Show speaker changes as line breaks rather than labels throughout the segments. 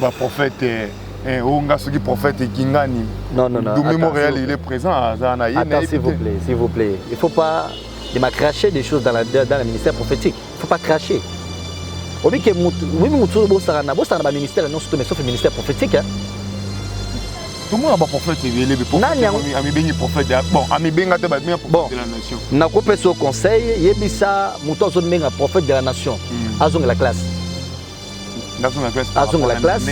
Ba prophète eh oh nga soki prophète kingani. Non non non. Dumi
Montréal il est présent
aza na yene. Attends s'il vous plaît, s'il
vous plaît. Il faut pas de ma cracher des choses dans la dans le ministère prophétique. Il faut pas cracher. Obi ke mutu, oui mutu bo sarana, bo sarana ba ministère non surtout mais sauf le ministère prophétique hein.
tomona baprofete ebele amibengi profete bon amibenga te babenga profete de la nation nakopesa yo
conseil yebisa moto azombenga profete de la nation hmm. azongela classe azongela classe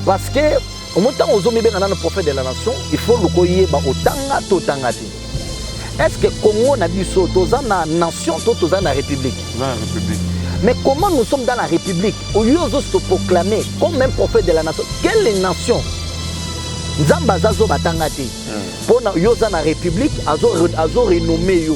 parce que omo ntango ozomibenga nano prophète de la nation il faut luka oyeba otanga to otanga te est ce que congo na biso toza na nation to toza na république
mais comment nous
sommes dans la république oyo ozo se proclamer comme un prophète de la nation quelle nation nzambe aza zoba atanga te mpo hmm. na yo oza na république azo renomme yo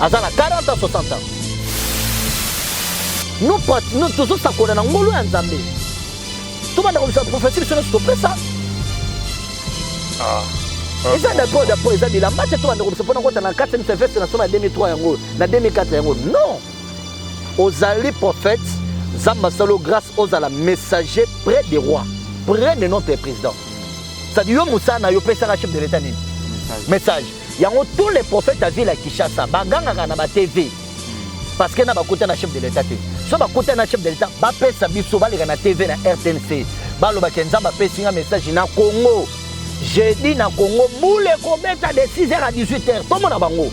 aza na 40 ans 60 ans no pati no tozosakola na ngolu ya nzambe tobanda kobisa profesi biso nyonso topesa ah, ah. eza dapo dapo eza bilamba te tobanda kobisa mpona kota na kati misa veste na soma ya 2003 yango na 2004 yango non ozali prophète nzambe asalo grâce ozala messager près de roi près de notre président cestadi yo mosala na yo opesaka chef de l'état nini message Yango tous les prophètes à ville à Kinshasa bagangaka na ba TV parce que na bakuta na chef de l'État te. So bakuta na chef de l'État bapesa biso baleka na TV na RTNC baloba ke Nzambe apesi nga message na Congo jeudi na Congo boule ekobeta de 6h à 18h tomona bango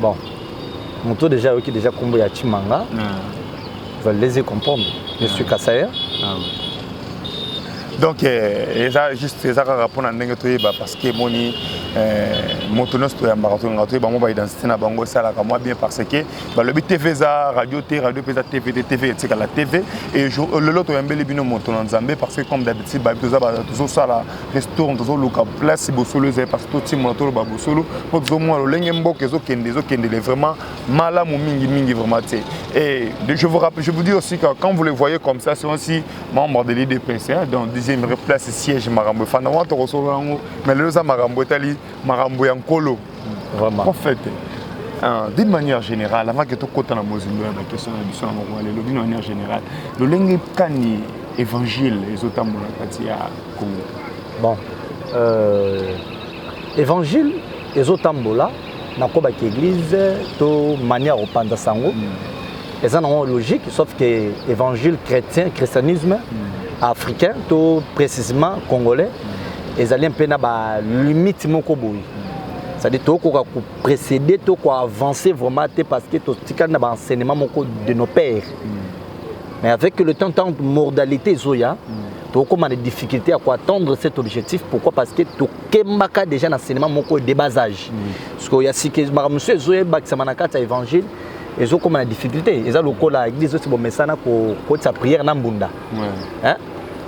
bon moto deja ayoki deja nkombo ya chimanga va laisser comprendre je suis kasayer ah
donc eh, eza juste eza kaka mpona ndenge toyeba parce que emoni eh, moto nyonso toyambaka tolingaka toyeba bango baidentité na bango esalaka mwa bien parce que balobi tv eza radio te radio mpe eza tv te tv etikala tv et lelo toyambeli bino moto na nzambe parce que comme d'habitude bayebi toza tozosala restaurant tozoluka place bosolo ezali parce totimola toloba bosolo mpo tozomona lolenge mboka ezokende ezokendele vraiment malamu mingi mingi vraiment te et je vous rappelle je vous dis aussi que quand vous le voyez comme ça c'est aussi membre de l'idps hein, dans deuxième place siège makambo efanda wana tokosolola yango mais lelo eza makambo etali makambo ya nkolo prophète ah, d'une manière générale avant que tokota na mozindo ya bakestion na biso na mokolo lelo d'une manière générale lolenge kani évangile ezotambola kati ya congo
bon
euh, évangile
ezotambola nakobaki église to manière opanza sango mm. eza nango logique sauf que évangile chrétien christianisme mm. africain to précisément congolais mm. ezali mpe na balimite moko boye c'est-à-dire tokoka koprécéder to koavancer vraiment te parce que totikali na baenseignement moko de nos pères mm. mais avec le temps tant modalité ezoya mm. tokokoma na difficulté ya koattendre cet objectif pourquoi parce que tokembaka déjà na enseignement moko de bas âge mm. sikoyo ya sika makambo mosusu ezoyebakisama na kati ya évangile ezokoma na difficulté eza lokola église osi bomesana kokotisa prière na mbunda hein?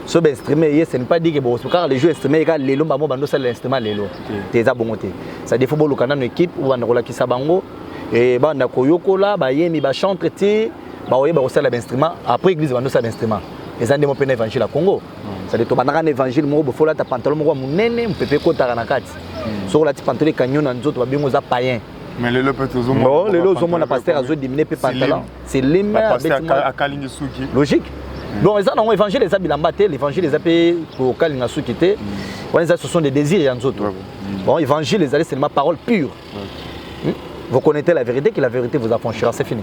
so bainstrument eye ce n'est pas dit ke bokosukaka le jour instrument eka lelo mbamo bando osalela instrument lelo te eza bongo te ça defo boluka nano équipe obanda kolakisa bango e banda koyokola bayemi bachantre ti baoyeba kosala bainstrument après église bando osala bainstrument eza nde mopena évangile ya congo sadi tobandaka na évangile moko bofolata pantalon moko ya monene mopepe ekotaka na kati soki olati pantalon ekanyo na nzoto babengo oza payen mais lelo pe tozo
mona bon lelo ozo mona
pasteur azo diminuer pe pantalon c'est lime abeti moi akalingi suki logique mm. bon eza nango évangile eza bilamba te l'évangile eza pe kokalinga suki te mm. wana eza ce sont des désirs ya nzoto mm. bon évangile ezali seulement parole pure vous connaissez la vérité que la vérité vous affranchira c'est fini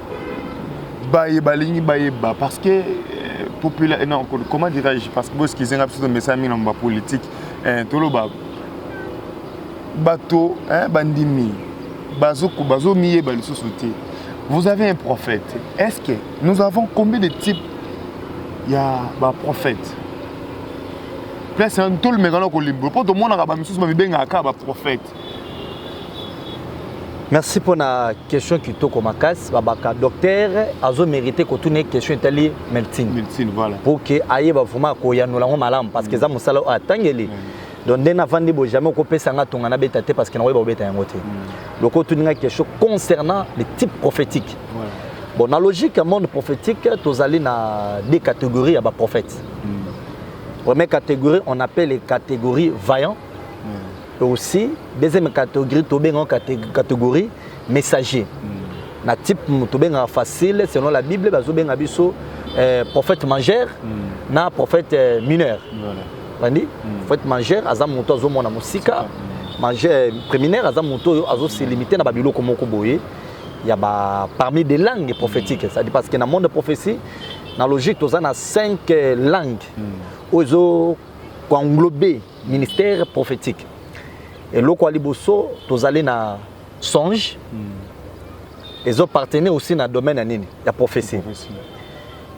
baye balingi bayeba parce que euh, popula eh, non, comment dirais-je parce que boskize nga biso tomesana mingi na mba politique eh, toloba bato eh, bandimi bazomiyeba lisusu te vous avez un prophète est ce que nous avons combien de type ya baprophète place tolumekana kolimbola mpo tomonaka bamisusu bamibengaka kaka baprophète
merci mpo na question kitoko makasi babaka docteur azo mérite kotuna ye question etali meltine voilà. mpo
ke ayeba vraimen
koyanola yango malamu parce que eza mm. mosala oyo atangeli mm. donc nde navandi boye jamais okopesa nga tonga nabeta te parce que nakoyeba kobeta yango te mm. loko otuni nga question concernant le type prophétique voilà. bon na logique ya monde prophétique tozali na deux catégories ya baprophète mm. première catégorie on appelle les catégories vaillant mm. aussi deuxième catégorie tobenga catégorie messager mm. na type tobengaka facile selon la bible bazobenga biso euh, prophète mangeur mm. na prophète euh, mineur bandi mm. prophète mangeur aza moto azomona mosika mm. mangeur euh, préminaire aza moto oyo azoselimite na babiloko moko boye ya ba parmi des langues prophétiques mm. c'est-à-dire parce que na monde de prophétie na logique toza na 5 langues mm. oyo ezo koenglobe ministère prophétique eloko ya liboso tozali na songe hmm. ezo partene aussi na domaine ya nini ya prophétie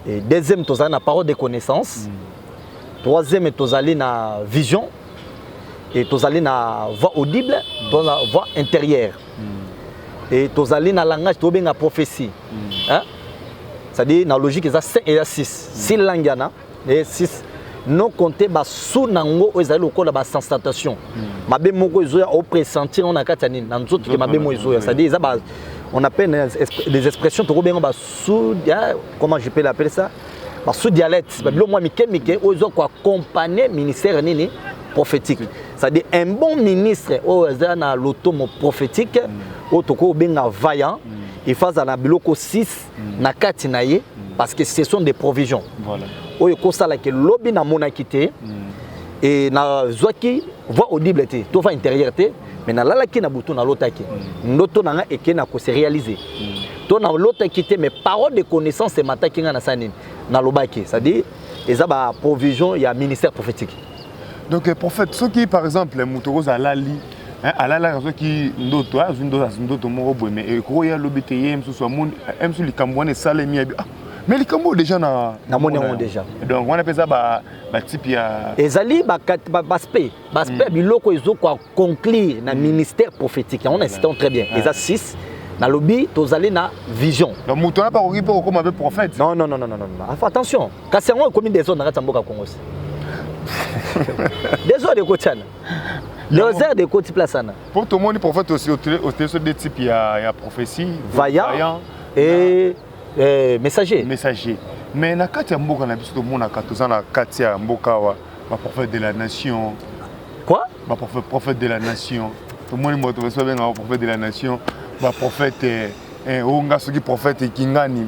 Et deuxième tozali na parole de connaissance hmm. troisième tozali na vision et tozali na voix audible hmm. to na voix intérieure et tozali na langage tobenga prophétie hein? c'est-à-dire na logique eza 5 et 6 si langue yana Et six, non compter ba sous nango oyo ezali lokola ba sensation hmm. mabe moko ezoya au pressentir on a kati ya nini na nzoto ke mabe moko ezoya c'est-à-dire eza ba on appelle des expressions toko benga ba sous hein, comment je peux l'appeler ça ba sous dialecte ba bilo mwa mike mike oyo ezo ko accompagner ministère nini prophétique c'est-à-dire un bon ministre oyo aza na lotomo prophétique hmm. oyo toko benga vaillant hmm. il faut azala biloko 6 mm. na kati na ye mm. parce que ce sont des provisions voilà. oyo ekosalaki lobi namonaki te mm. e nazwaki voix audible te to voix intérieure te mais nalalaki na butu nalotaki mm. ndoto na nga eke na kose réaliser mm. to nalotaki te mais parole de connaissance emataki nga na sa nini nalobaki c'est-à-dire eza ba provision ya ministère prophétique donc eh,
prophète soki par exemple moto okoza alali eh, alalaka soki ndoto eh, azwi ndoto moko boye me ekoki ya lobi te ye mosusu amoni mosusu likambo wana esalemi yabi ah, mais likambo oyo déjà na namoni yango déjà
donc wana mpe eza
batype ya ezali baspect
baspect ba ya hmm. biloko ezokoa conclure na hmm. ministère prophétique yango na esitano très bien eza 6 nalobi tozali na vision moto wana mpe akoki
mpe kokoma mpe prophète non non non non non
attention Kasi yango ekomi desordre na kati ya mboka Congo se. desordre ekotiana. Desordre ekoti place wana. Mpo tomoni prophète
aussi oteso de type ya, ya prophétie. Vaillant. Vaillant. Et,
na... et eh, messager. Messager.
Mais na kati ya mboka na biso tomonaka toza na kati ya mboka wa ba prophète de la nation. Quoi?
Ba prophète, prophète de
la nation. Tomoni moto baso benga prophète de la nation. Ba prophète eh, eh, onga soki prophète kingani.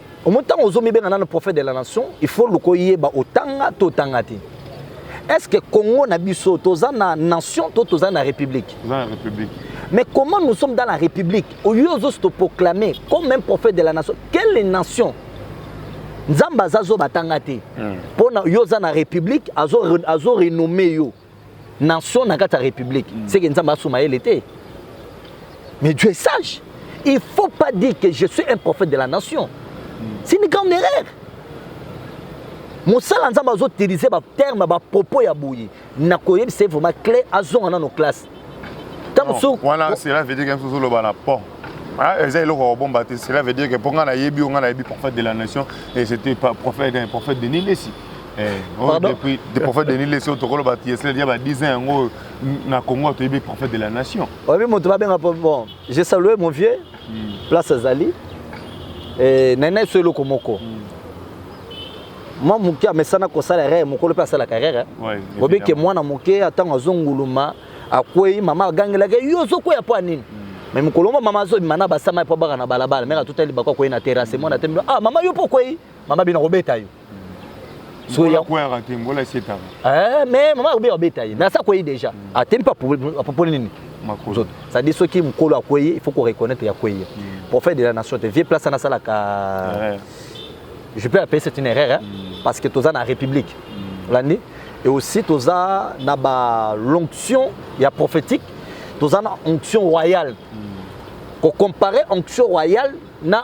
omo ntango ozomibenga nano prophète de la nation il faut luka oyeba otanga to otanga te est ce que congo na biso toza na nation to toza na république
mais comment nous
sommes dans la république oyo ozosi toproclame comme un prophète de la nation quelle nation nzambe aza zoba atanga te mpo hmm. na yo oza na république azo renomme yo nation na kati ya république mm. seke nzambe asuma yele te mais dieu est sage il faut pas dire que je suis un prophète de la nation mm. c'est une grande erreur mosala nzambe azoutilize baterme bapropos ya boye na koyebisa ye vraiment cle azonga nano classe ntango mosusu
wana cela veut dire que ozoloba na pont Ah, eza eloko kobomba te cela veut dire que mpo ngai nayebi yo ngai nayebi prophète de la nation et c'était prophète, prophète denis lesi Eh, oh, Pardon? depuis de prophète Denis Lesio tokolo ba Yesle dia ba 10 ans yango na Congo toyebi prophète de la nation. Oyebi moto babenga po- bon
je salue mon vieux place azali Eh, naye naye so eloko moko mwa moke amesana kosala erreur mokolo mpe asalaka erreur eh. Ouais, oyebi ke évidemment. mwana moke ntango azonguluma akwei mama agangelaka ye, yo ozokweya mpo ya nini me mokolo mwa mama azobima na basama mpo abaka na balabala meka tutali bako akwei na terase mwana te ah mama yo mpo okwei mama bino akobeta yo soya
kwera te ngola setaka eh mais mama
obia obeta ye mais ça quoi déjà mm. atemi ah, pas pour pour nini makozo ça dit ceux qui mukolo akweye il faut qu'on reconnaître ya kweye mm. prophète de la nation te vieux place na sala ka je peux appeler c'est une erreur hein, mm. parce que toza na république l'année et aussi toza na ba l'onction ya prophétique toza na onction royale ko comparer onction royale na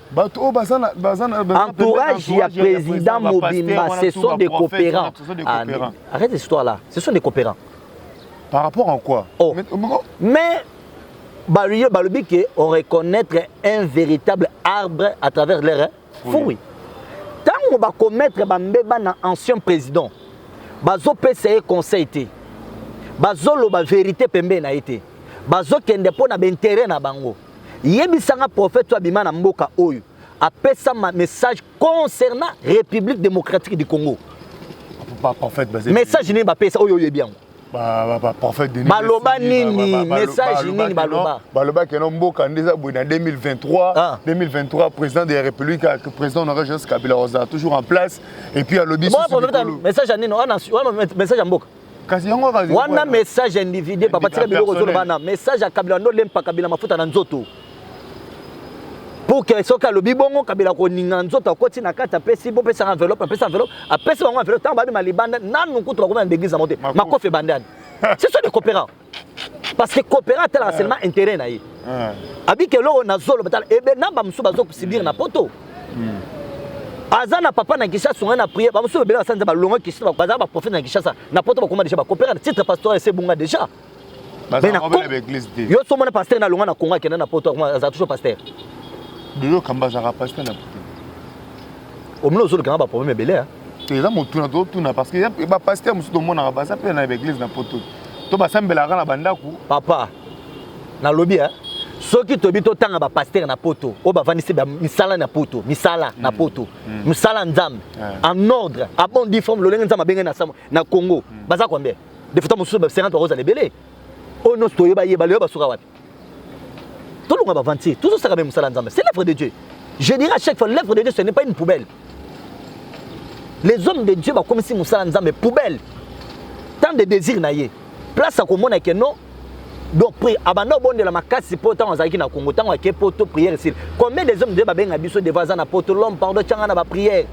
bato oyo baza na baza na baza na entourage ya entourage président ba pasteurs mobimba wana, ce tout sont ba des prophètes coopérants wana, ce sont des Ah, mais coopérants. arrête cette histoire là ce sont des coopérants par rapport
à quoi Oh. Mais- mais-
mais balobi balobi ke on reconnaître un véritable arbre à travers leur Oui. fruit ntango bakomettre bambeba na ancien président bazopesa ye conseil te bazoloba vérité pembeni na ye te bazokende mpo na baintérêt na bango Yebisa nga prophète soit bima na mboka oyo apesa ma message concernant République démocratique du Congo. Ba
prophète basé. Message nini bapesa oyo
oyebi yango? Ba ba prophète
Denis. Baloba nini
message nini baloba? Baloba que non
mboka ndeza boye na 2023, ah. 2023 président de la République que président honoré Joseph Kabila Rosa toujours en place et puis alobi. Bon, message nini?
Wana message ya mboka. kasi yango kaka wana message individuel papa tika biloko zolo bana message ya kabila ndo lempa kabila mafuta na nzoto pour que soki alobi bongo kabila koninga nzoto akoti na kati apesi bopesaka enveloppe apesi enveloppe apesi bango enveloppe ntango babima libanda nanu kutu bakoma na deglise yango te makofi ebandani c'est ça de coopérant parce que coopéra atalaka ah. seulement intérêt na ye ah. abiki eloko na zolo batala ebe eh namba mosusu bazokosibir na poto hmm. aza na papa na kinshasa ongai na priere bamosusu babele basala nzambe balonga kinshasa bazala baprofete na kinshasa na poto bakoma deja bacoopéra na titre pastoral ese ebunga deja
yo so omona paster na
longa na kongo akenda na poto aza toujours paster omona ozolukanga baproblème ebele eza motuna
totuna parce que bapaster mosusu tomonaka baza mpe na baeglise na poto to basambelaka na bandako papa
nalobi eh? soki toyebi totanga bapastere na poto oyo bavandisi misala na poto misala na mm. poto mm. mosala nzambe en ordre a bon diforme lolenge nzambe abenge na congo mm. baza combien defuta mosusu ba 50 bakozala ebele oyo nyonso toyeba yeba leyo basuka wapi tolonga ba aventure tozosaka mpe mosala nzambe c'est l'œuvre de dieu je dirais à chaque fois l'œuvre de dieu ce n'est pas une poubelle les hommes de dieu bakomisi mosala nzambe poubelle tant de désir na ye place akomona ke non donc abanda obondela makasi mpo ntango azalaki na congo ntango ake poto prière esili combien des hommes de dieu babenga biso devant aza na poto l'homme pardon tyanga na baprière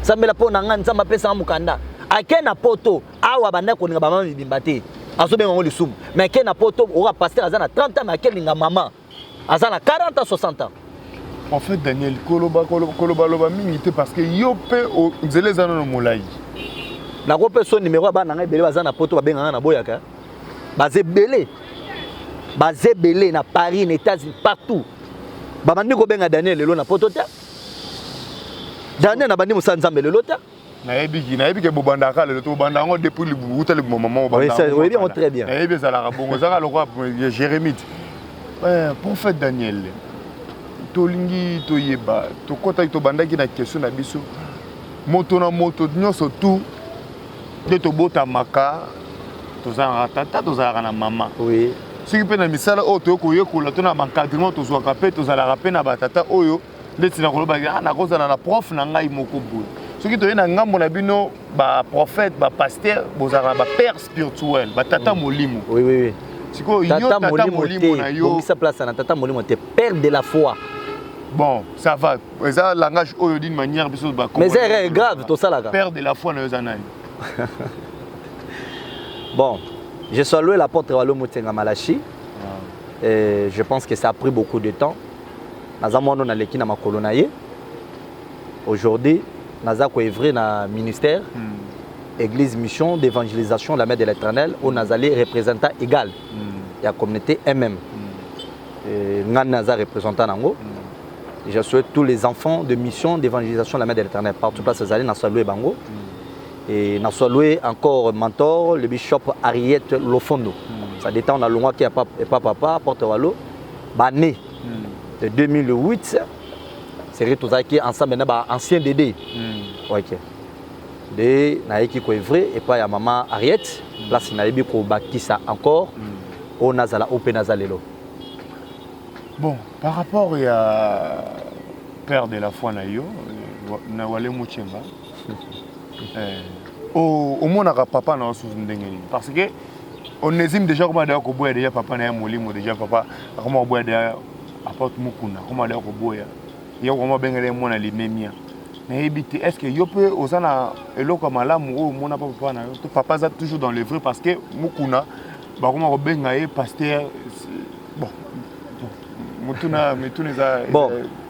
sambela mpo na ngai nzambe apesanga mokanda ake na poto awa abandaki kolinga bamama mibimba te azobenga yango lisumu mais ake na poto oka pasteur aza na 30 ans mais akelinga mama aza na 40 ans 60 ans en fait daniel
kolobaloba mingi te parce que yo mpe nzela eza nano molai nako
mpe so nimero ya bana na ngai ebele baza na poto babenga ngai na boyaka baza ebele baza ebele na paris na états-unis partout babandi kobenga daniel lelo na poto te daniel nabandi mosala nzambe lelo te nayebi ki nayebi
ke bobandaka kaka lelo tobanda yango depuis uta libumo mama oyebi yango très
bien nayebi ezalaka bongo ezaka
lokola jérémite eh, prophète daniel tolingi toyeba tokɔtaki tobandaki na question na biso moto na moto nyonso tu nde tobotamaka tozalaka tata tozalaka na mama oui. soki mpe
na misala
oyo toyei koyekola to na bankadrement tozwaka mpe tozalaka mpe na batata oyo ndeti na koloba ah, nakozala na prof na ngai moko boye soki toye na ngambo na bino baprophète bapaster bozalaka na bapère spirituel batata mm. molimo oui, oui, oui.
sikoyo yo tata
molimo na yobongisa place na tata molimo
te père de la foi bon
ça va eza langage oyo d'une manière biso ba mais erreur grave
tosalaka père de la foi na yo eza
nani
bon je suis loué l'apôtre walo motenga malachi ah. et je pense que ça a pris beaucoup de temps naza mwana naleki na makolo na ye aujourd'hui naza koevre na ministère mm. église mission d'évangélisation la mère de l'éternel oyo nazali représentant égal mm. ya communauté mm ngai naza représentant na yango mm. je souhaite tous les enfants de mission d'évangélisation la mère de l'éternel partout place ezali na salue bango mm. et na salue encore mentor le bishop Ariette Lofondo mm. ça détend na longwa qui a papa papa porte walo bane hmm. de 2008 seri tozalaki ensemble na ba ancien dede hmm. ok nde nayeki koevre epai ya mama ariette hmm. place nayebi kobakisa encore oyo nazala oyo mpe naza lelo
bon par rapport ya père de la foi na yo na wale muchemba Eh, oh, omonaka papa na osusu ndenge nini parce que onésime déjà akoma deya koboya deja papa na ye molimo deja papa akoma koboya deya aporte mokuna akoma deya koboya ye akoma abengela ye mwana limemia nayebi te est ce que yo mpe oza na eloko ya malamu oyo omona mpa papa na yo to papa aza toujours dans le vrai parce que mokuna bakoma kobenga ye paster bon motuna mituna eza bon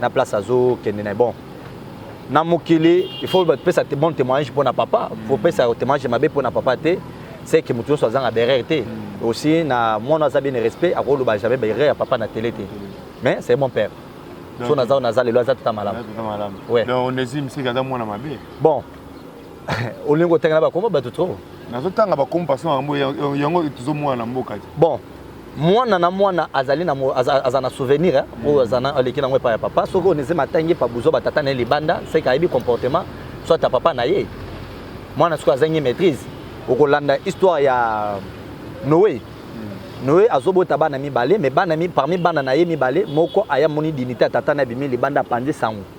na place azokende na bon na mokili il faut bapesa bon témoignage mpo na papa faut pesa témoignage mabe mpo na papa te c'est que moto nyonso azanga berere te mm. aussi na mwana aza bien respect akoloba jamais berere ya papa na tele te mais c'est bon père so naza naza lelo aza tuta malamu donc onésime sika
aza mwana mabe bon
olingi kotanga na bakoma bato trop nazotanga bakoma
parce yango yango tozomona na mboka te bon
mwana na mwana azali na aza na souvenir eh, oyo aza na aleki nango epai ya papa soki oyo neze matangi epa buzo batata na ye libanda seke ayebi comportement soit ya papa na ye mwana soki azangi maîtrise okolanda histoire ya noe hmm. noe azobota bana mibale me bana parmi bana na ye mibale moko aya moni dinite ya tata na bimi libanda apanzi sango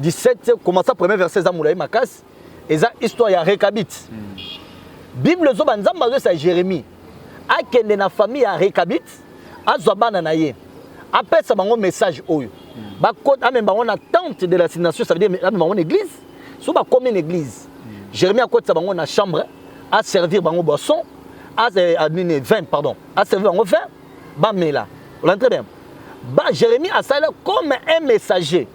17 commença premier verset eza mulayi makasi eza histoire ya rekabit mm. bible ezoba nzambe azoyesa jérémie akende na famille ya rekabit azwa bana na ye apesa bango message oyo mm. bakota amema bango na tente de l'assignation ça veut dire amema bango na église so bakomi na église mm. jérémie akotisa bango na chambre aservir bango boisson nini 20 pardon aservir bango 20 bamela olandi très bien ba jérémie asala comme un messager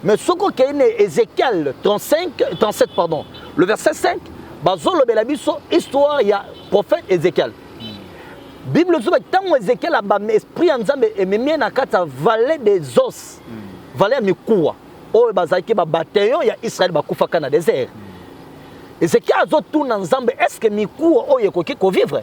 mais soki okei na ézéchiel 35 37 pardon le verset 5 bazolobela biso histoire ya prophète ézéchiel bible ezoba ntango ézéchiel abami esprit ya nzambe ememi ye na kati ya vallée des os vallée ya mikuwa oyo bazalaki babateyon ya israel bakufaka na désert ézéchiel azotuna nzambe est ce que mikuwa oyo ekoki kovivre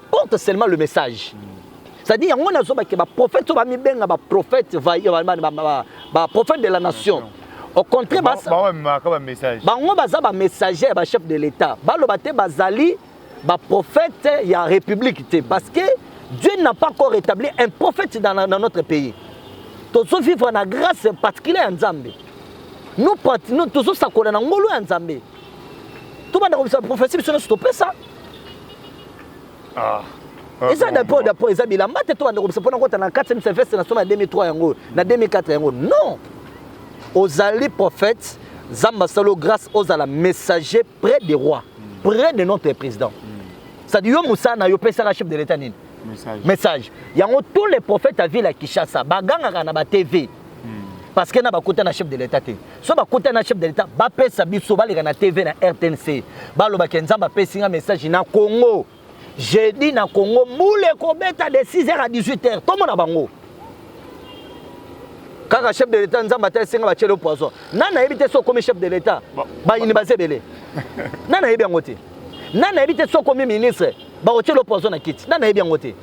porte seulement le message c'est-à-dire yango nazoba ke baprophète oyo bamibenga baprophète baprophète de la nation au contraire bango baza bamessager ya bachef de l'état baloba te bazali baprophète ya république te parce que dieu n'a pas encore rétabli un prophète dans, dans notre pays tozovivre na grâce particulier ya nzambe tozosakola na ngolu ya nzambe tobanda kobisa prophetie biso nyonso topesa ah. Ah, eza dapo dapo eza bilamba te tobanda kobisa mpona kota na 4 semestre na soma ya 2003 yango na 2004 yango non ozali prophète nzambe asalo grâce ozala messager près des rois près de notre président cestadi yo mosala na yo opesaka chef de l'état nini message yango tous les prophètes ya ville ya kinshasa bagangaka na batv parce que na bakota na chef de l'état te so bakota na chef de l'état bapesa biso baleka na tv na rtnc balobake nzambe apesi nga message na congo jeudi na congo mbula ekobeta de 6 heures à 18 heures tomona bango kaka chef de l'état nzambe ata esenga batyele poison na nayebi te so okomi chef de l'état bayini baza ebele na nayebi yango te na nayebi te so okomi ministre bakotyele poison na kiti na nayebi yango te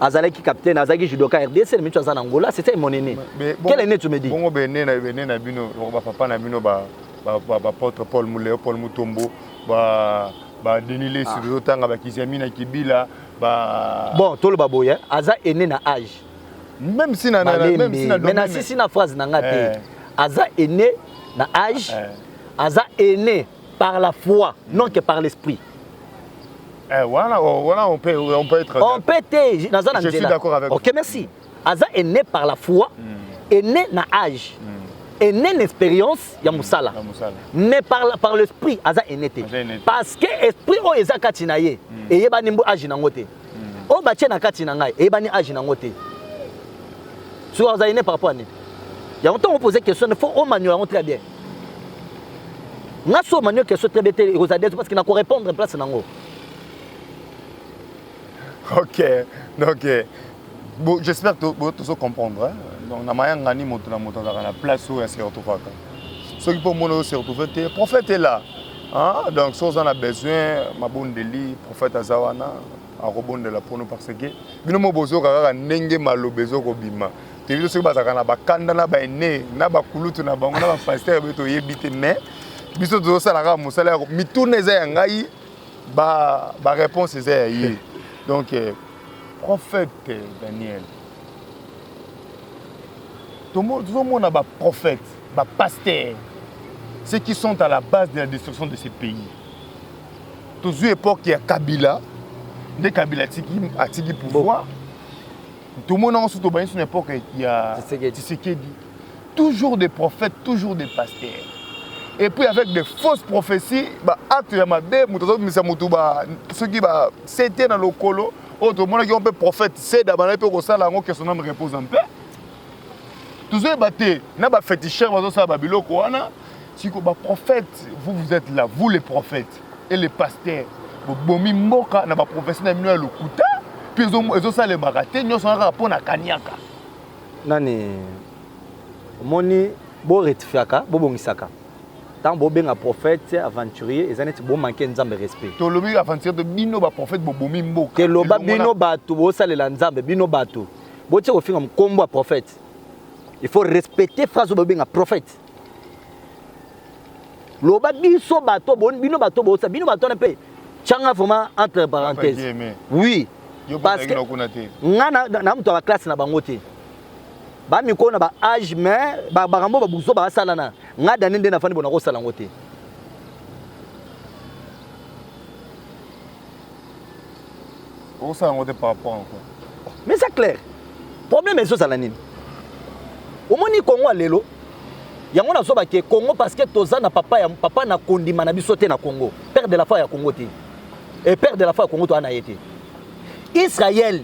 azalaki capitaine azalaki judoka rdc na mitu aza na ngola c'est ça mon aîné quel aîné tu me dis bongo bene na bene na
bino ba papa na bino ba ba ba potre Paul Muleo Paul Mutombo ba ba Denis Lessi ah. tozotanga ba Kiziami na Kibila ba bon toloba boye
aza aîné na âge même si na
même si na mais na sisi
na phrase na nga te eh. aza aîné na âge eh. aza aîné Par la foi, non que par l'esprit.
Eh, voilà, oh, voilà, on peut, on peut être. On peut être.
Naza na Je suis d'accord avec vous.
Ok, merci. Aza
est né par la foi, mm. est né na âge. Mm. Est né une expérience ya hmm. musala. Ya musala. Mais par la, par l'esprit aza est né Parce que esprit o oh, eza kati na ye. Mm. Et yeba nimbo âge na ngote. Mm. O oh, ba na kati na ngai, yeba ni âge na ngote. Soki aza est né par rapport à nini? yango ntango opose question il faut omaniole yango très bien nga so manio question très bien te ekozala dezo parce que na ko répondre place nango
ok donc euh, bon, j'espère que tozo comprendre hein? donc na mayanga ni moto na moto azalaka na place oyo ase retrouvaka soki mpo omona oyo se retrouve te prophète est là hein? donc soki oza na besoin mabondeli prophète aza wana akobondela mpono parce que bino mo bozokaka kaka ndenge maloba ezokobima toyebi te soki bazalaka na bakanda na baene na bakulutu na bango na bapastere boye toyebi te mais biso tozosala kaka mosala ya mituna eza ya ngai bareponse eza ya ye donc euh, prophète daniel tozomona baprophète bapastere ceux qui sont à la base de la destruction de ce pays tozwi époque ya kabila nde kabila atiki pouvoir bon. tomona yango soki tobanisi na epoke ya tisekedi toujours des prophètes toujours des pasteurs et puis avec des fausses prophéties baacte ya mabe moto azobimisa motu soki basete na lokolo oyo tomonaki yango mpe prophète seda bandaki mpe kosala yango que son ame repose en paix tozoyeba te na bafetichere bazosala babiloko wana siko baprophète vous vous êtes là vous les prophètes et les pasteurs bobomi mboka na ba prophetie na bino ya lokuta puis ezo salemaka te nyoso na kaka pona kaniaka nani
omoni bo rectifiaka bo bongisaka ntango bobenga prophète aventurier eza neti bomanke nzambe respect tolobi aventurier to
bino baprophète bobomi mboka keloba bino
bato bosalela nzambe bino bato botie kofinga mokombo ya prophète il faut respecter phrase oyo bobenga prophète loba biso bato bino bato bosa bino bato wana mpe changa vraiment entre parenthèse oui parce que nga na moto ya baklasse na bango te bamikolo na ba age mais bakambo babuzo basalana nga dani nde nafandi bona kosala yango te
okosala yango te par rapport en quoi mais eza clair
problème ezozala nini omoni kongo ya lelo yango nazoba ke congo parce que toza na papa ya papa na kondima na biso te na congo père de la foi ya congo te e père de la foi ya congo toza na ye te israel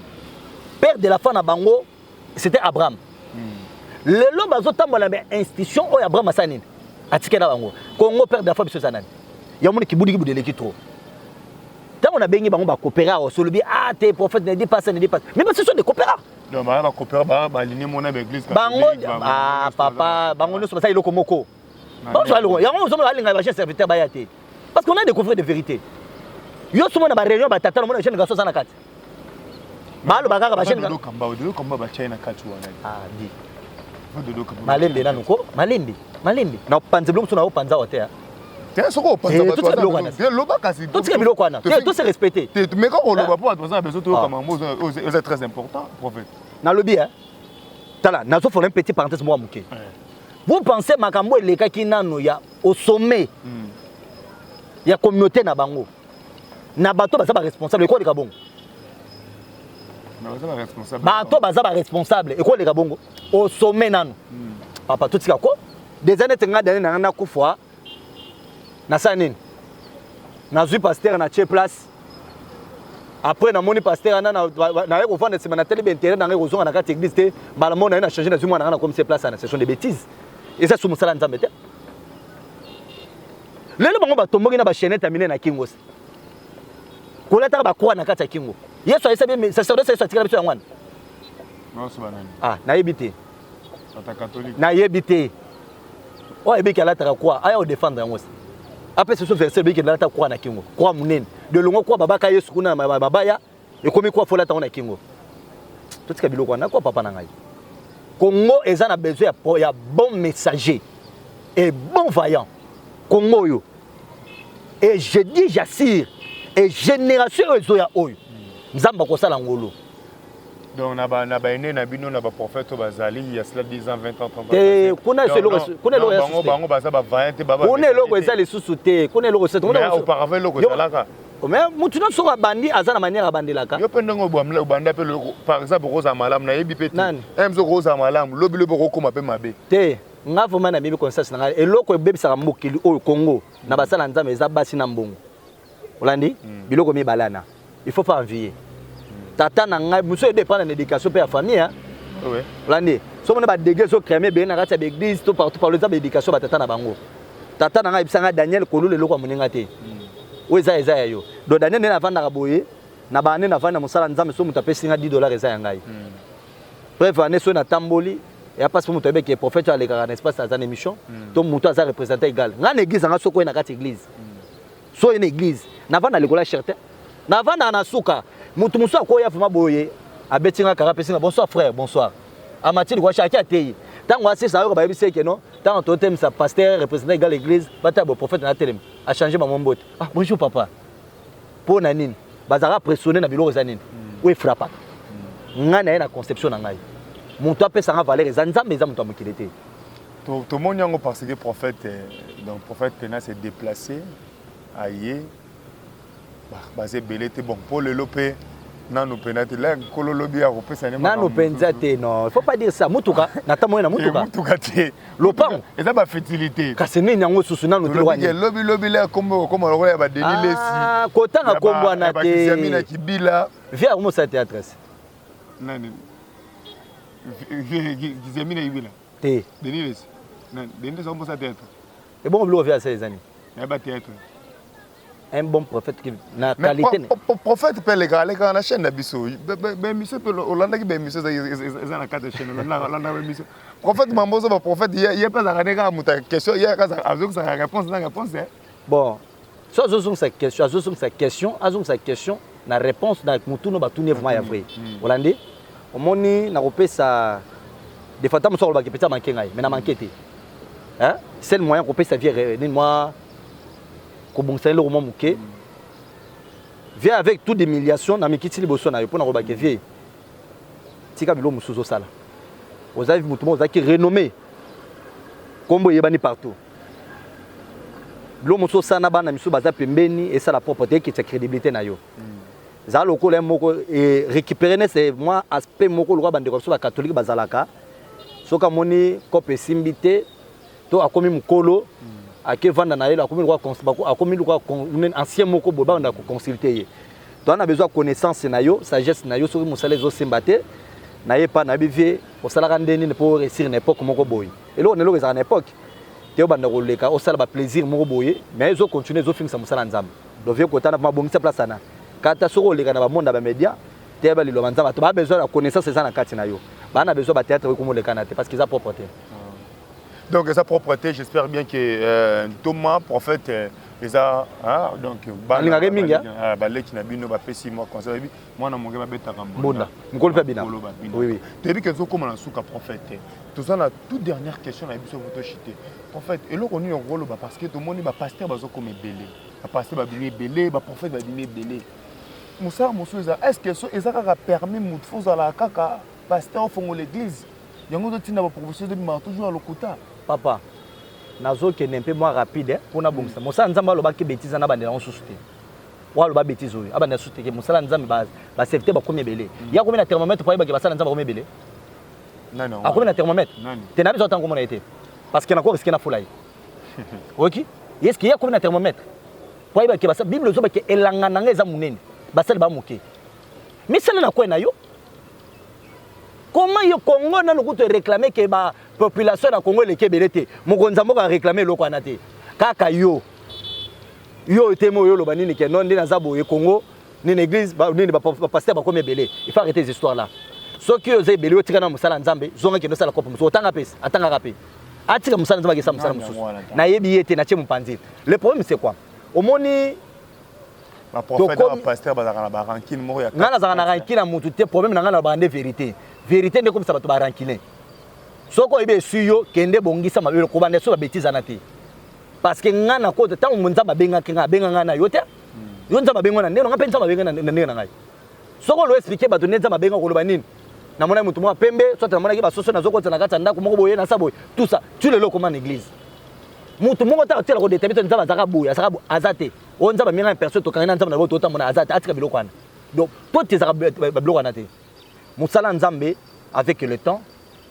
père de la foi na bango c'était Abraham hmm. lelo bazotambola na institution oyo Abraham asala nini atikela bango Congo père dafa biso eza nani ya moni kibudiki budeleki trop ntango nabengi bango bakopera oso olobi ah te prophète ne dit pas ça ne dit pas mais basi so de kopera
bango ah,
papa bango nyonso basala eloko moko bazwa eloko yango ozomona alinga ba jeune serviteur baya te parce qu'on a découvert des vérités yo somo na ba réunion ba tata omona jeune garçon aza na kati baloba kaka ba jeune garçon kamba odo kamba ba chai
na kati wana ah
di malembe nanu ko malembe malembe na panze biloko na yo panza wa te te soko opanza
bato baza biloko wana te loba kasi totika biloko wana te to
se respecter te mais kaka oloba mpo
bato baza na besoin toyoka mambo oza très important prophète nalobi
hein tala nazofola un petit parenthèse mwa moke Vous pensez makambo elekaki nano ya au sommet mm. ya communauté na bango na bato baza ba responsable ekoleka bongo bato baza ba responsable ekoleka bongo au sommet nano mm. papa totika ko des années tenga dane na nga nakufa nasala nini nazwi pastere na tie place après namoni pastere wana naye kovanda nsima natali baintere na ngai kozonga na kati église te mbala moko naye na change nazwi mwana ngai nakomisi place ana session de bétise eza su mosala ya nzambe te lelo bango batomboki na bachainete ya minene na kingo se kolataka bakroa na kati ya kingo yesu ayesa sacerdoce yesu atikala biso yango wana
ah, nayebi te nayebi te
oyo ayebiki alataka kwa aya odefendre yango se apesa biso verse ebiki nalata kwa na kingo kwa monene delongo kwa babaka yesu kuna na babaya ekomi kwa folata yango na kingo totika biloko wana kwa papa na ngai congo eza na besoin ya, ya bon messager et bon vaillant congo oyo et je dis j'assire et génération oyo ezoya oyo nzambe akosala ngolo Donc na
ba na ba aînés na bino na ba prophètes oyo bazali il y a cela 10 ans 20 ans 30 ans. te kuna Donc, eloko
non, kuna eloko non, ya bango susu te. bango
baza ba vaillants te baba. kuna eloko eza lisusu
te kuna eloko eza te. Kuna Mais eloko- auparavant eloko Yo-
ezalaka. Mais mutu nyonso
soki abandi aza na manière abandelaka Yo pe ndenge obamla
obanda pe loko par exemple okozala malamu nayebi pe te. Nani? Em soki okozala malamu lobi lobi okokoma pe mabe. te nga vraimen
nayebi conscience na ngai eloko ebebisaka mokili oyo congo na basala nzambe eza basi na mbongo olandi mm. biloko mibale wana il faut pas envier mm. tata na ngai mosusu edependre na éducation mpe ya famille hein? oui. olandi
soki mona
badege ezocrame ebele na kati ya baeglise to partout partout eza baéducation batata na bango tata na ngai ayebisa ngai daniel kolula eloko ya moninga te mm. oyo eza eza ya yo donc daniel nde navandaka boye na baane navandi na mosala nzambe soki moto apesi ngai 10 dollars eza ya ngai mm. bref ane soki natamboli ya mpasi mpo moto ayebi ke prophète oyo alekaka na espace aza na émission mm. to moto aza représente égal ngai na église anga soki oye na kati église so oye na eglise navanda likola cherte navandaka na suka motu mosusu akoya vraimen boye abeti nga kaka apesi nga bonsoir frère bonsoir amati likola charte ateyi ntango asisa ayoka bayebisi eke no ntango totemisa pasteur représentant egal église batala boprofete na telema achange bango mbote ah bonjour papa mpo na nini bazalaka pressione na biloko eza nini hmm. oyo efrapaka hmm. ngai na ye na conception na ngai moto apesa nga valeur eza nzambe eza moto ya mokili te To tomoni
yango parce que prophète euh, donc prophète Pena s'est déplacé aye baza ebele te bon mpo lelo mpe nanu mpenza te la nkolo lobi akopesa nanu mpenza te
non il faut pas dire ça motuka natamboye na eh, motuka motuka te
lopango eza
bafertilité
kasi nini yango susu
nanu lobi lobi la kombo
kokoma lokola ya badeni ah, lesi kotanga
kombo wana te na kibila
via akomosala théâtre
nani
kizamina kibila te denis lesi nani denis lesi akombosa théâtre ebongo biloko vya
asala eza nini nayeba
théâtre
un bon prophète qui na qualité prophète pe leka
leka na chaîne na biso ba émission pe olandaki ba émission eza na carte de chaîne olandaka olandaka ba émission prophète mambozo ba prophète ye pe azalaka ne kaka moto ya question ye azoki sa réponse na réponse Bon,
so azozongisa question, azozongisa question, azongisa question na réponse na motuna batuni vraiment ya vrai. Mm. Mm. Olandi? Omoni nakopesa de fois ntango mosusu akolobaka epesa manke ngai mais na manke te. Hein? Seul moyen kopesa vie eh, nini mwa kobongisa eloko mwa moke. Mm. Vie avec toute humiliation na mikiti liboso na yo mpo nakolobaka vie tika biloko mosusu ozosala. Oza motu moko ozalaki renommé. Kombo eyebani partout. Lo mosusu osala na bana misusu baza pembeni esala propre te ekitisa credibilité na yo. Mm. Zala lokola moko e récupérer ne c'est moi aspect moko lokola bandeko biso ba catholique bazalaka soki amoni cope esimbi te to akomi mokolo mm. ake vanda na ye akomi lokola akomi lokola ancien moko boye banda ko consulter ye. Donc na besoin connaissance na yo, sagesse na yo soki mosala ezo semba te na ye pa na bivie osalaka nde nini pour réussir na époque moko boye. eloko na eloko ezalaka na epoque te obanda koleka osala baplaisir moko boye mais ezo continue ezofingisa mosala ya nzambe donc vie kotana mpo abongisa place ana kata soki oleka na bamonda bamédia te yeba liloba nzambe bato baa besoin ya connaissance eza na kati na yo baa na besoin bateatre oyo komolekana te parce que eza propre te ah.
donc eza propre te j'espère bien que euh, ntoma prophète euh, eza donc balingaka mingi baleki na bino bapesi mwa conseil mwana moke babetaka mbonda mokolo mpe
abina toyebi ke ezokóma na suka
prophète te toza na toute dernière question na biso po toshite prophète eloko nini okoloba parce que tomoni bapaster bazokoma ebele bapaster babimi ebele baprophète babimi ebele mosala mosusu eza est ce que so eza kaka permis motu fo ozalaka kaka paster ofongola église yango ezotinda baprofession ezobimaka toujours ya lokuta papa
nazokende mpe mwa rapide mpo nabongisa mosala nzambe alobaki betiza na bandela yango susu te oyo aloba betise oyo abanda susu teke mosala ya nzambe baserviteur bakomi ebele ye akomi na thermomètre po ayebake basala nzambe bakomi ebele
akomi na thermomètre
te na biso ata nkomona ye te parce que nako riske na fula ye oyoki eske ye akomi na thermomètre po ayebake basala bible ozobake elanga na ngai eza monene basali ba moke misala na kwe na yo comment yo congo nanu kutu ereklame ke ba population na congo eleki ebele te mokonzi ya mboka areklame eloko wana te kaka yo Yo oyo temo yo loba nini que non nde naza boye Congo nini église ba nini ba pasteur ba komi ebele il faut arrêter les histoires là soki yo oza ebele yo tika na musala nzambe zonga kende sala kopo musu otanga pesa atanga ka pe atika musala nzambe akesa musala mususu na yebi yete na tie mupanzi le problème c'est quoi omoni ba
prophète ba pasteur ba zaka na ba rancune moko ya nga na zaka na rancune na mutu
te problème na nga na ba nde vérité vérité nde komisa bato ba rancune soko oyebi esui yo kende bongisa mabe ko banda so ba bêtise na te parce que nga na kota tango nzambe abengaki nga abenga nga na yo te yo nzambe abenga na ndenge nga mpe nzambe abenga na ndenge na ngai soki olo explike bato nde nzambe abenga koloba nini namonaki moto moko pembe soit namonaki basoso nazokota na kati ya ndako moko boye nasa boye tout ça tu lelo okoma na église moto moko ta otiela kodetami to nzambe azalaka boye azalaka boye aza te oyo nzambe amenga na personne tokangi na nzambe na boto otamona aza te atika biloko wana donc to tezaka babiloko wana te mosala nzambe avec le temps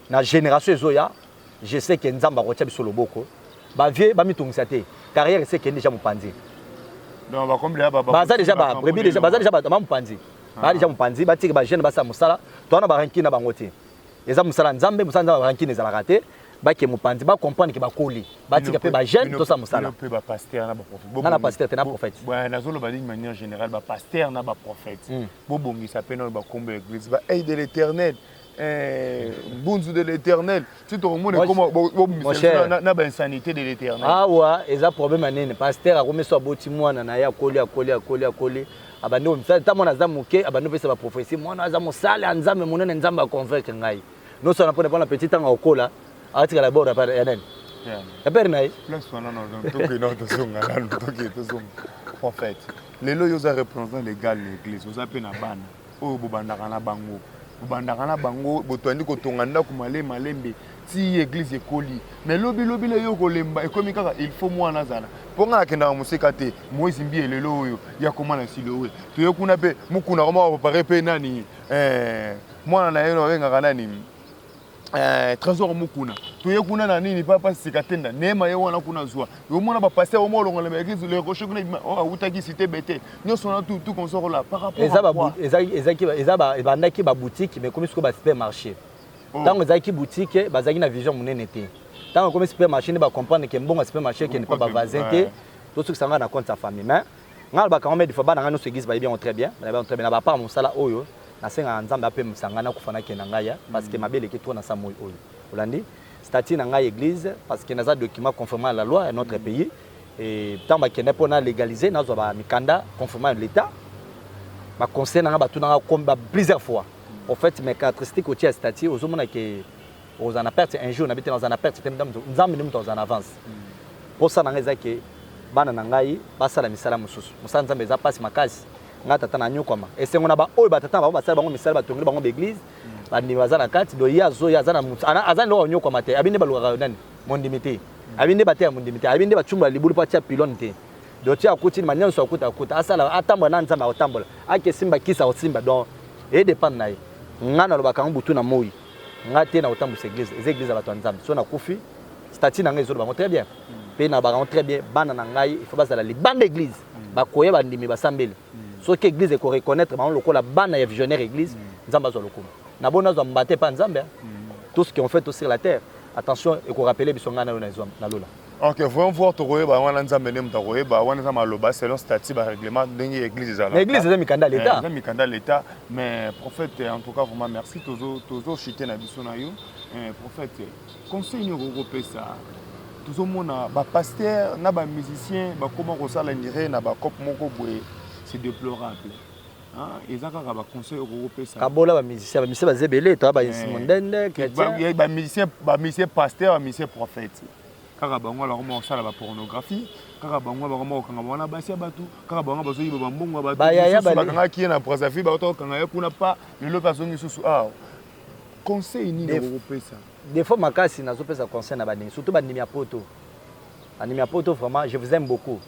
na génération ezoya Je sais que Nzambe akotia biso loboko. Ba vieux ba mitungisa te. Carrière ese kende déjà mupanzi. Donc ba
kombi ba ba za déjà ba brebi
déjà ba za déjà ba ma mupanzi. Ah. Ba déjà mupanzi ba tiki ba jeune ba sa musala. To na ba ranki na bango te. Eza musala Nzambe, musala Nzambe ba ranki ne zala raté. Ba ke mupanzi ba comprendre ke ba koli. Ba tiki pe ba jeune to sa musala. Pe ba pasteur na ba
prophète. Bo na pasteur te na prophète.
Ba na zolo ba ligne
manière générale ba pasteur na ba prophète. Hmm. Bo bongisa pe na ba kombi l'église ba aide l'éternel. Eh, bunzu de l'éternel ti tokomona ekoma bomisana na bainsanité de l'éternel awa ah, eza
problème ya nini paster akomi so aboti mwana na ye akoli akoli akoli akoli abandi komisala ntango mwana aza moke abandi opesa baprophétie mwana aza mosala ya nzambe monene nzambe aconvaincre ngai nosala mpona mpona petit ntango akokola atikala bord ya nani ya pere na ye
prophète lelo yo oza représentant légal na église oza mpe na bana oyo bobandaka na bango bobandaka na bango botoandi kotonga ndako male malembe ti eglise ekoli mais lobi lobi le yo kolemba ekomi kaka il faut mwana azala mpo ngai nakendaka moseka te moise mbiye lelo oyo ya koma na silowe toye kuna mpe mokuna koma bapare mpe nani eh, mwana na ye babengaka nani Eh, trésor mukuna toye kuna na nini papa sika tenda nema ye wana kuna zwa omona bapaster omo olongola na église le rocher kuna oh, awutaki cité bete nyonso wana tout tout consort là par rapport eza ba eza eza eza ba
ebandaki ba boutique mais comme siko ba supermarché ntango oh. ezalaki boutique bazalaki na vision monene te ntango ekomi supermarché nde bacomprendre ke mbongo ya supermarché ekende mpo bavasin te tosukisa ngai na compte ya famille mais ngai alobaka yango me defois bana ngai nyonso eglise bayebi yango très bien bayebi yango très bien na bapart mosala oyo Nasengaka Nzambe apemisa ngai nakufa na kenda ngai ya parce que mabe eleki trop na sa moi oyo. Olandi? Statut na ngai église parce que naza document conformément à la loi ya notre pays et tant ba kenda pour na légaliser nazwa ba mikanda conformément à l'état. Ba conseil na ngai batuna ngai comme ba plusieurs fois. Au fait mes caractéristiques au tiers statut ozomona que ozana na perte un jour na bite na ozana perte te Nzambe ndio mtu ozana avance. Pour ça na ngai eza que bana na ngai basala misala mosusu. Mosala Nzambe eza pasi makasi. nga tata na nyokwama esengo na baoyo batata na bango basali bango misala batongeli bango baeglise bandimi baza na kati do ye azoya aza na motu aza ndoka konyokwama te abi nde balukaka nani mondimi te abi nde bateya mondimi te abi nde bacumbola libulu mpo atia pilone te do ti akuti ma nyonso akuta akuta asala atambola na nzambe akotambola akesimba kisa akosimba don edepende na ye nga nalobaka yango butu na moi nga te na kotambwisa eglise eza eglise ya bato ya nzambe so nakufi stati na ngai ezoloba bango très bien mpe hmm. na bakango très bien bana na ngai ifo bazala libanda eglise hmm. bakoya bandimi basambeli hmm. soki eglise ekoreconnaitre bango lokola bana ya visionnaire eglise nzambe azwa lokumu na boni azwa mbate epai nzambe tout ce qui ont fait sur la terre attention ekorapele biso ngai na yo na lola Ok, voyons voir
tokoyeba yango wana Nzambe nde moto akoyeba wana eza maloba selon statut ba règlement ndenge église ezalaka. Mais église eza mikanda ya eh, l'État. Eza
mikanda ya l'État
mais prophète en tout cas vraiment merci tozo tozo chiter na biso na yo. Eh, prophète conseil nini okoki kopesa tozomona bapastere na bamusicien bakóma kosala nire na bacope moko boye c'est déplorable Ah, eza kaka ba conseil okoki kopesa kabola ba musicien ba
musicien baza ebele toya ba eh. insi mondende chrétien ba
musicien ba musicien pasteur ba musicien prophète kaka bango alako moko kosala ba pornographie kaka bango bango moko kokanga bango na basi ya bato kaka bango bazoyiba bambongo ya bato bakangaki ye na brazzaville bakota kokanga ye kuna pa lelo mpe azongi susu awa ah, conseil nini okokopesa Defaut makasi
nazo pesa conseil na bandimi surtout bandimi ya poto. Bandimi ya poto vraiment je vous aime beaucoup.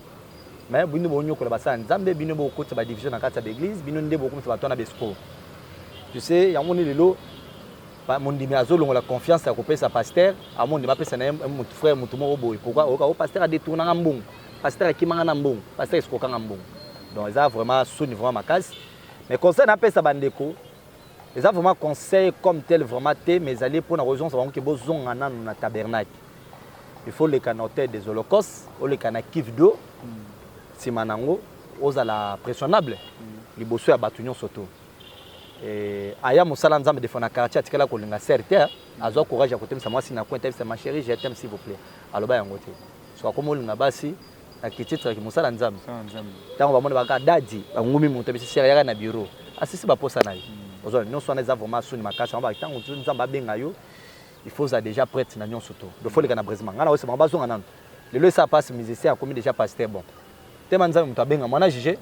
Mais bino bo nyokola basala Nzambe bino bo kotsa ba division na kati ya l'église bino nde bo komisa bato na besco. Tu sais yango ni lelo mondimi azo longola confiance ya kopesa pasteur amondi bapesa na ye motu frère motu moko boye pourquoi oyoka o pasteur adetournanga mbongo pasteur akimanga na mbongo pasteur esokokanga mbongo donc eza vraiment soni vraiment makasi mais conseil napesa bandeko Eza vraiment conseil comme tel vraiment te mais ezali mpo na kozongisa bango ke bozonga nanu na tabernacle il faut oleka na hotel des holocaustes oleka na kive do nsima na yango ozala pressionnable liboso ya bato nyonso to aya mosala nzambe defo na quartier atikala kolinga ser te azwa courage ya kotemisa mwasi na coin tayebisa ma chérie je t'aime s'il vous plaît aloba yango te soki akomi olinga basi akititre ki mosala nzambe ntango bamoni baka dadi bangumi moto ebisisi yaka na bureau asisi baposa na ye hmm. ozwa nyonso wana eza vraiment soni makasi yango ntango mosusu nzambe abenga yo il faut ozala déjà prête na nyonso to dofoleka na brésilma ngai naosi bango bazonga nano lelo esa pasi musicien akomi déjà pasteur bon tema nzambe moto abenga mwana juge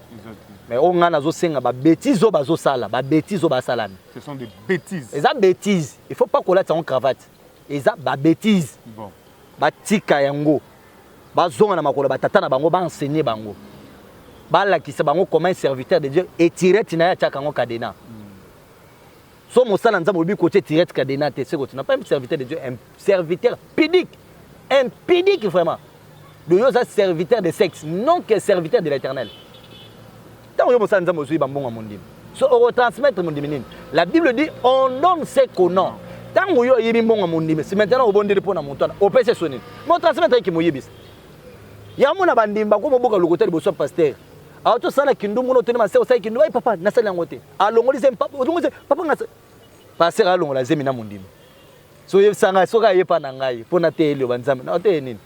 mais oyo ngai nazosenga babétise oyo bazosala babétise oyo basalami
eza bétise
il faut pas kolatisa yango cravate eza ba bêtise bon.
batika
yango bazonga na makolo batata na bango baenseigne bango balakisa bango comment serviteur de dieu etirete na ye atiaka yango cadena hmm. so mosala nzambe olobi kotie etirete cadena te seko tina pas un serviteur de dieu un serviteur pidique impidique vraiment de yo oza serviteur de sexe non que serviteur de l'éternel Tango yo mosali Nzambe ozui ba mbongo ya mondimi, so oko transmettre mondimi nini? La Bible dit on donne ce qu'on a. Tango yo oyebi mbongo ya mondimi, si maintenant obondeli pona moto wana, opesi so nini? Mo transmettre ki moyebisa. Ya mona ba ndimi ba ko moboka lokuta liboso ya pasteur. Alors to sala kindumbu no tuni maseo sai kindumbu, ai papa na sala yango te. Alongoli zemi papa, olongoli zemi papa ngasa. Pasteur alongola zemi na mondimi. So yebisa ngai soka yepa na ngai pona te elio ba nzambe. Na te nini?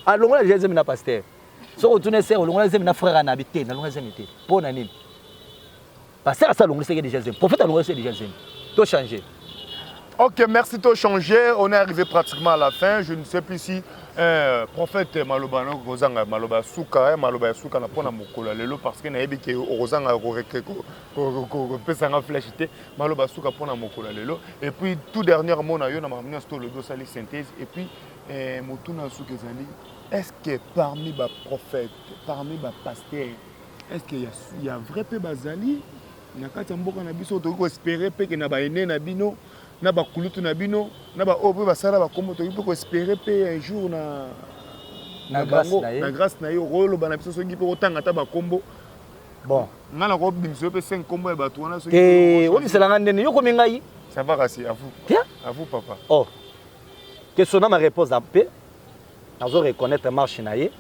Alongola zemi na pasteur. soki otuna esere olongola zemi na frère anabi te nalongola zemi te mpo na nini pasteur asa alongolisaki deja zemi prophète alongolisi deja zemi to change
ok merci to change on est
arrivé
pratiquement à la fin je ne sais plus si eh, prophète maloba na kozanga maloba ya suka eh, maloba ya suka na mpo na mokolo ya lelo parce que nayebi ke okozanga kopesa nga flash te maloba ya suka mpo na mokolo ya lelo et puis tout dernièrement na yo na makambo nyonso tolobi osali synthèse et puis eh, motuna ya suka ezali Est ce que parmi ba prophètes, parmi ba pasteurs, est ce que ya, ya vrai pe bazali na kati ya mboka na biso tokoki koespere mpe ke na baene na bino na bakulutu na bino na baoyo mpe basala bakombo tokoki mpe koespere mpe un jour na na bango na grâce na ye okoloba na biso soki mpe otanga ata bakombo bon
nga na kobimisa
yo mpe se nkombo ya bato wana soki te obisela nga ndene
yo komi ngai ça va kasi à
vous à vous papa
oh que sona ma réponse mpe nazo reconnaitre marche na ye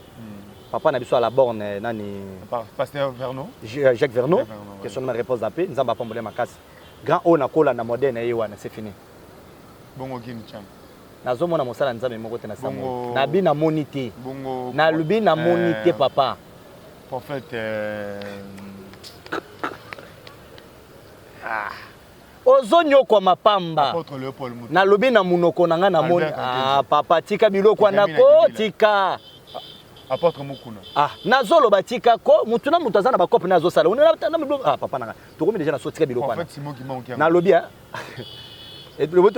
papa na biso à la borne eh, nani Pa- Pasteur Vernon. Ju- euh, Jacques
Verneau Jacques Verneau, que
ouais. son nom repose en paix nzambe apambola ye makasi grand oyo nakola na modèle na ye wana c'est fini Bongo
Gin Chan. nazomona mosala
ya nzambe moko te na Bongo- sambo na bi namoni te Bongo. nalobi namoni te Euh, papa Prophète.
euh,
Ozo nyokwama pamba. Na lobi na munoko na nga na moni ah papa tika biloko wana ko tika. Apotre
Mukuna. Ah, nazo loba tika
ko mutu na mutu aza na ba cop na azo sala. Ona na biloko ah papa na nga. Tokomi deja na so tika biloko wana. Prophète Simon Kimonki. Na lobi ah.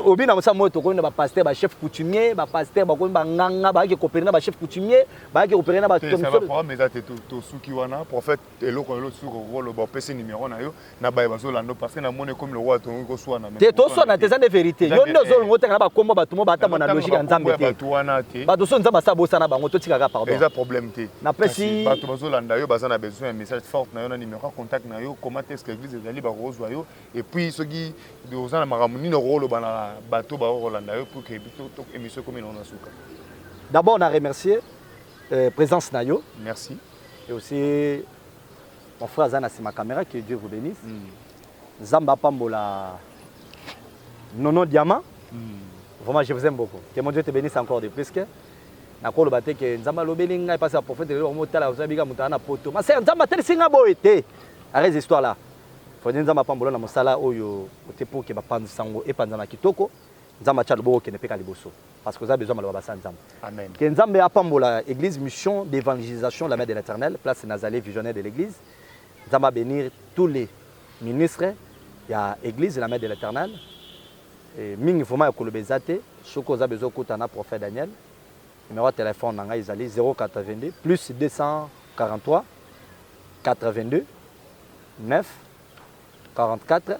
obi na mosa moyo tokomi na bapaster bachef coutumier bapaster bakomi banganga bayaki kopere na bachef coutumier bayaki kopere na baprograme eza te
tosuki wana prophète eloko lelo suka okoloba opesi numero na yo na baye bazolanda parce que namoni ekomi lokola tongi koswana te toswana te eza nde
verité yo nde ozolongo otanga na bakombo bato mo baata mwana logique ya nzambe te bato wana te bato so nzambe asa bosana bango totikaka pardon eza problème te
napesi bato
bazolanda yo baza
na besoin ya message forte na yo na numero ya contact na yo comment est-ce que l'église ezali bakozwa yo et puis soki oza na makambo nini okoloba na bato bakolanda yo pour que émission ekomi na suka d'abord na
remercier euh, présence na yo merci Et
aussi,
mon frère Zana Sima Kamera, que Dieu vous bénisse. Mm. Zamba Pambola, Nono Diamant. Mm. Vraiment, je vous aime beaucoup. Que mon Dieu te bénisse encore de plus. Que nakoloba te ke nzambe alobeli ngai mpasi ya profete lelo omotala ozabika moto ana poto masere nzambe atelisi ngai boye te arrese histoire là fode nzambe apambola na mosala oyo ote mpo ke bapanzi sango epanzana kitoko nzambe atya loboko okende mpe ka liboso parce que oza besoin maloba basa nzambe amen que nzambe
apambola
église mission d'évangélisation la mère de l'éternel place nazali visionnaire de l'église nzambe bénir tous les ministres ya église la mère de l'éternel mingi vraiment ya koloba eza te soki oza besoin okuta na prophète daniel numéro ya telefone na ngai ezali 082 plus 243 82 9 44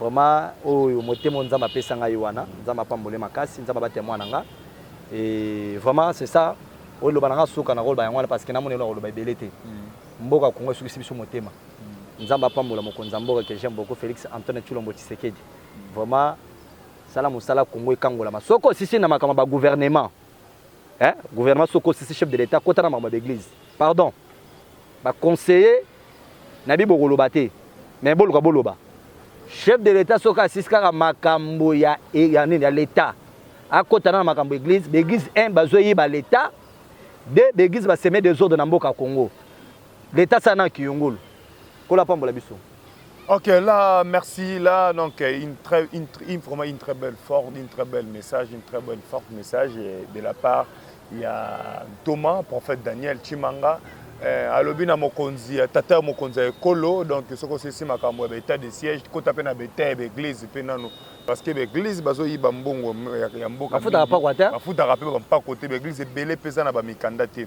Vraiment oyo motema oyo Nzambe apesa ngai wana Nzambe apambole makasi Nzambe abatela mwana nga et vraiment c'est ça oyo loba na nga suka na koloba yango wana parce que namoni eloko koloba ebele te mm. mboka Congo esukisi biso motema mm. Nzambe apambola mokonzi ya mboka que j'aime beaucoup Félix Antoine Tshilombo Tshisekedi mm. vraiment sala mosala Congo ekangolama soko osisi na makambo ba gouvernement eh gouvernement soko sisi chef de l'etat kota na makambo ya baeglise pardon baconseiller na bi bokoloba te mais boluka boloba chef de l'etat soki asisi kaka makambo ya, e, ya nini ya l'etat akota na makambo eglise baeglise 1 bazoyiba l'etat de baeglise baseme desordre na mboka congo l'etat sana kiyungulu Nkolo apambola biso. Ok, là,
merci. Là, donc, euh, une très, une, une, vraiment une très belle forme, une très belle message, une très bonne forme message de la part. Il y a Thomas, prophète Daniel Chimanga. Eh, alobi na mokonzi ya tata ya mokonzi ya ekolo donc soki osisi makambo ya baetat de siège kota mpe na beta ya baeglise mpe nano parce que baeglise bazoyiba mbongo ya mbokabafutaka
mpe bampako te
baeglise ebele mpe eza na bamikanda te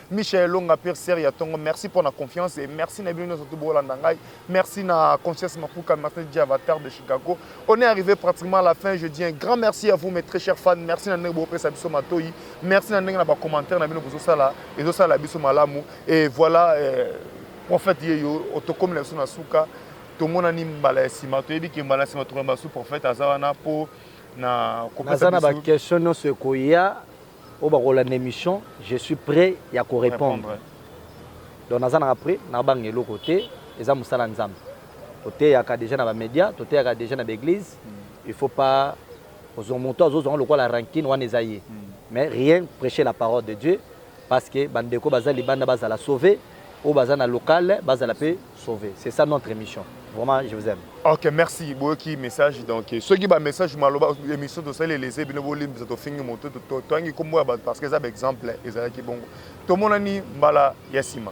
Michel Elonga pire sœur ya tongo merci pour la confiance et merci na bino nyonso tout bolanda ngai merci na conscience mapuka merci DJ Avatar de Chicago on est arrivé pratiquement à la fin je dis un grand merci à vous mes très chers fans merci na ndenge bopesa biso matoyi merci na ndenge na ba commentaires na bino bozosala ezosala biso malamu et voilà euh, prophète yeyo otokomi na biso na suka tomonani mbala ya nsima toyebi ke mbala ya nsima tokoyamba su prophète aza wana mpo na kopesa na baquestion
nyonso ekoya oyo bakolanda emission je suis prêt ya korepondre donc naza naka prêt nabanga eloko te eza mosala nzambe toteyaka déjà na bamédia toteyaka déjà na baeglise mm. il faut pas ozwa moto azozwanga lokola rankine wana eza ye mm. mais rien prêcher la parole de dieu parce que bandeko baza libanda bazala sauve oyo baza na local bazala mpe sauver c'est ça notre émission vraiment je vous aime ok merci boyoki
message donc soki ba message maloba émission tosali elese bino bolimbisa tofingi moto toyangi nkombo ya bato parce que eza ba exemple ezalaki bongo tomonani mbala ya nsima